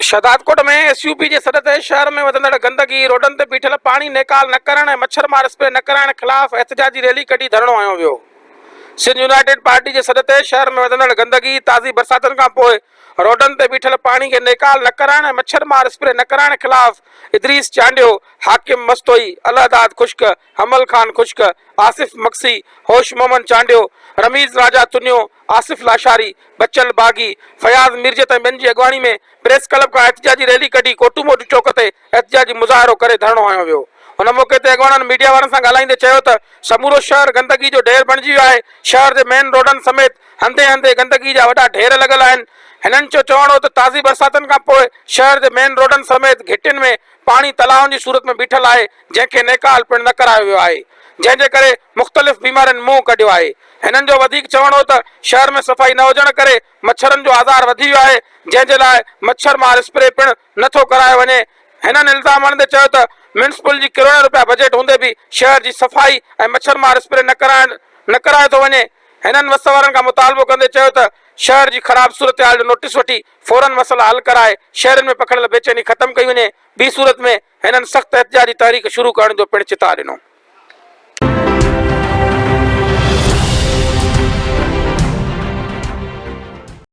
Shahdadkot ۾ S U P جي سڏ تي شهر ۾ وڌندڙ گندگي، روڊن تي بيٺل پاڻي نيڪال نه ڪرڻ ۽ مڇر مار اسپري نه ڪرائڻ خلاف احتجاجي ريلي ڪڍي ڌرڻو هنيو ويو. سنڌ يونائيٽيڊ پارٽي جي سڏ تي شهر ۾ وڌندڙ گندگي، تازي برساتن کانپوء روڊن تي بيٺل پاڻي کي نيڪال نه ڪرائڻ ۽ مڇر مار اسپري نه ڪرائڻ خلاف ادريس چانڊيو، حاڪم مستوئي، الهداد خشڪ، حمل خان خشڪ، آصف مگسي، هوش محمد چانڊيو، رميز راجا تنيو، آصف لاشاري، بچل باغي، فياض ميرجت ۽ ٻين جي اڳواڻي ۾ پريس ڪلب کان احتجاجي ريلي ڪڍي ڪوٽوموٽو چوڪ تي احتجاجي مظاهرو ڪري ڌرڻو هنيو ويو. ان موقعي تي اڳواڻن ميڊيا وارن سان ڳالهائيندي چيو ته سمورو شهر گندگي جو ڍير بڻجي ويو آهي، شهر جي مين روڊن سميت هنڌين هنڌين گندگي جا وڏا ڍير لڳل آهن. هنن جو چوڻ هو ته تازي برساتن کانپوء شهر جي مين روڊن سميت گهٽين ۾ پاڻي تلاون جي صورت ۾ بيٺل آهي جنهن کي نيڪال پڻ نه ڪرايو ويو آهي جنهن جي ڪري مختلف بيمارين منهن ڪڍيو آهي هنن جو وڌيڪ چوڻ هو ته شهر ۾ صفائي نه هجڻ ڪري مڇرن جو آزار وڌي ويو آهي جنهن جي لاء مڇر مار اسپري پڻ نه ٿو ڪرايو وڃي هنن الزام هڻندي چيو ته ميونسپل جي ڪروڙين روپيا بجيٽ هوندي به شهر جي صفائي ۽ مڇر مار اسپري نه ڪرائڻ نه ڪرايو ٿو وڃي هنن وس وارن کان مطالبو ڪندي چيو ته شهر جي خراب صورتحال جو نوٽيس وٺي فورن مسئلا حل ڪرائي شهرين ۾ پکڙيل بيچيني ختم ڪئي وڃي، ٻي صورت ۾ هنن سخت احتجاجي تحريڪ شروع ڪرڻ جو پڻ چتاء ڏنو.